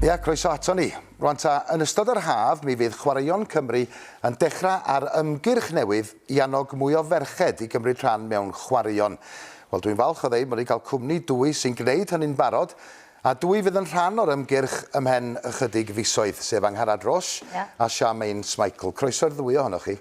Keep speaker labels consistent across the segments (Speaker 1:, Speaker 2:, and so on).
Speaker 1: Ia, croeso aton ni. Rwan ta, yn ystod yr haf mi fydd Chwaraeon Cymru yn dechrau ar ymgyrch newydd i annog mwy o ferched i gymryd rhan mewn chwaraeon. Wel, dwi'n falch o ddeud mod ni'n cael cwmni dwy sy'n gwneud hynny'n barod, a dwy fydd yn rhan o'r ymgyrch ymhen ychydig fisoedd, sef Angharad Roche a Charmaine Smikle. Croeso i'r ddwy ohonoch chi.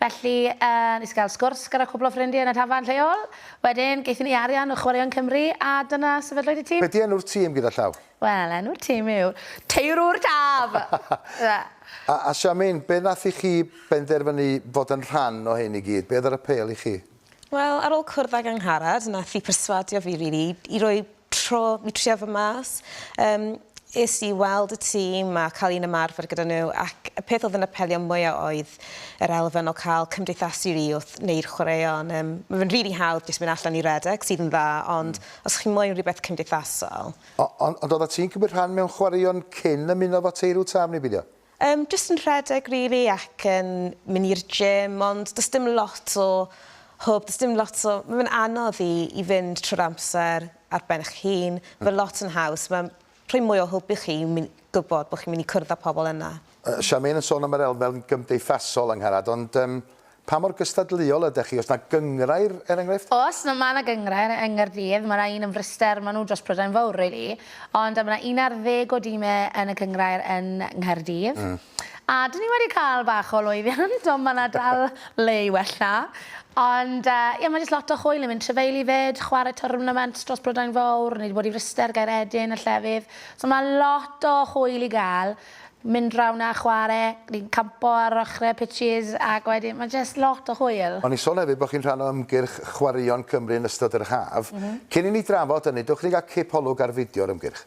Speaker 2: Felly, yy, nes i gael sgwrs gyda cwpl o ffrindie yn y tafarn lleol. Wedyn, gaethon ni arian o Chwaraeon Cymru, a dyna sefydlwyd y tîm. Be di enw'r tîm gyda
Speaker 1: llaw? Wel, enw'r tîm
Speaker 2: yw Teirwr Taf!
Speaker 1: A, a Siamin, be nath i chi benderfynu fod yn rhan o hyn i gyd? Be oedd yr apêl i chi? Wel ar ôl cwrdd
Speaker 3: ag Angharad nath i perswadio fi rili i roi tro i trio fy mas yym es i weld y tîm a ca'l un ymarfer gyda n'w ac y peth o'dd yn apelio mwya oedd yr elfen o ca'l cymdeithasu rili wrth neu'r chwaraeon yym ma' fe'n rili hawdd jyst mynd allan i redeg sydd yn dda ond hmm. os chi moyn rwbeth cymdeithasol. O- on- ond odda
Speaker 1: ti'n cymryd rhan mewn chwaraeon cyn ymuno efo Teirw Taf neu beidio? Yym jyst yn rhedeg
Speaker 3: rili ac yn myn' i'r gym ond do's dim lot o hwb do's dim lot o ma' fe'n anodd i i fynd trw'r amser ar ben 'ych hun. Ma' lot yn haws ma'n rhoi mwy o hwb i chi i myn- gwbod bo' chi'n myn' i cwrdd â pobol yna. Yy Charmaine yn sôn
Speaker 1: am yr elfen gymdeithasol Angharad ond yym Pa mor gystadleuol ydech chi? Oes 'na gynghrair, er enghraifft? Oes, mae 'na
Speaker 2: gynghrair yng Nghaerdydd. Mae 'na un yn Fryster, maen nhw dros Prydain Fawr rili. Ond mae 'na un ar ddeg o dimau yn y cynghrair yn Nghaerdydd. A 'dyn ni wedi cael bach o lwyddiant, ond mae 'na dal le i wella. Ond ie, mae jyst lot o hwyl yn mynd trefeili 'fyd, chwarae twrnaments dros Prydain Fawr, ni 'di bod i Fryster, Gaeredin a llefydd. So mae lot o hwyl i gael. mynd rownd a chware, ni'n campo ar ochrau pitches ac wedyn mae jyst lot o hwyl. O'n i'n sôn hefyd bod chi'n rhan
Speaker 1: o ymgyrch Chwaraeon Cymru yn ystod yr haf. Cyn i ni drafod hynny, dewch i ni gael cip olwg ar fideo'r ymgyrch.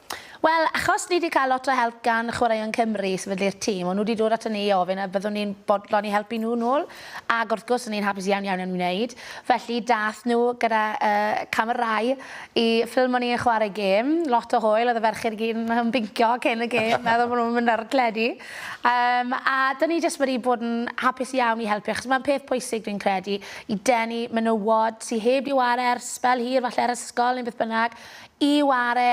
Speaker 1: Wel, achos ni
Speaker 2: 'di cael lot o help gan Chwaraeon Cymru i sefydlu'r tîm, o'n nhw 'di dod aton ni i ofyn a fyddwn ni'n bodlon i helpu nhw nôl, ag wrth gwrs o'n i'n hapus iawn iawn yn wneud. Felly dath nhw gyda yy camerâu i ffilmo ni yn chwarae gêm, lot o hwyl, oedd y ferched i gyd yn yn bincio cyn y gêm, meddwl bod nhw'n mynd ar y teledu. Yym a 'dyn ni jyst wedi bod yn hapus iawn i helpu, achos mae'n peth pwysig dwi'n credu i denu menywod sy heb 'di ware ers sbel hir, falle ar ysgol neu beth bynnag, i ware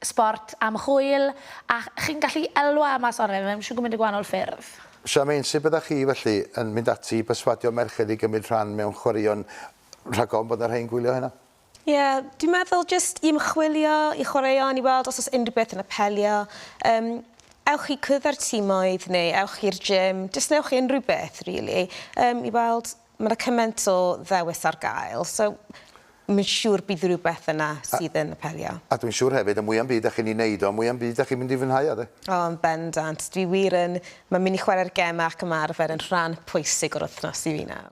Speaker 2: sbort am hwyl a chi'n gallu elwa am mas oren mewn shwd gymint o gwahanol ffyrdd. Charmaine, sut byddach
Speaker 1: chi felly yn mynd ati i berswadio merched i gymryd rhan mewn chwaraeon rhag ofn bod 'na rhei'n gwylio heno? Ie, dwi'n
Speaker 3: meddwl jyst i ymchwilio i chwaraeon i weld os o's unrhyw beth yn apelio. Yym, ewch i cwrdd â'r timoedd neu ewch i'r gym, jyst newch unrhyw beth rili, yym, i weld Ma' 'na cyment o ddewis ar gael so mi'n siŵr bydd rhywbeth yna sydd yn apelio. A dwi'n siŵr hefyd y mwya 'm byd
Speaker 1: 'dach chi'n 'i neud o y mwya 'm byd 'dach chi'n mynd i fwynhau o 'de? O yn bendant.
Speaker 3: Dwi wir yn. Ma' myn' i chwarae'r geme ac ymarfer yn rhan pwysig o'r wythnos i fi nawr.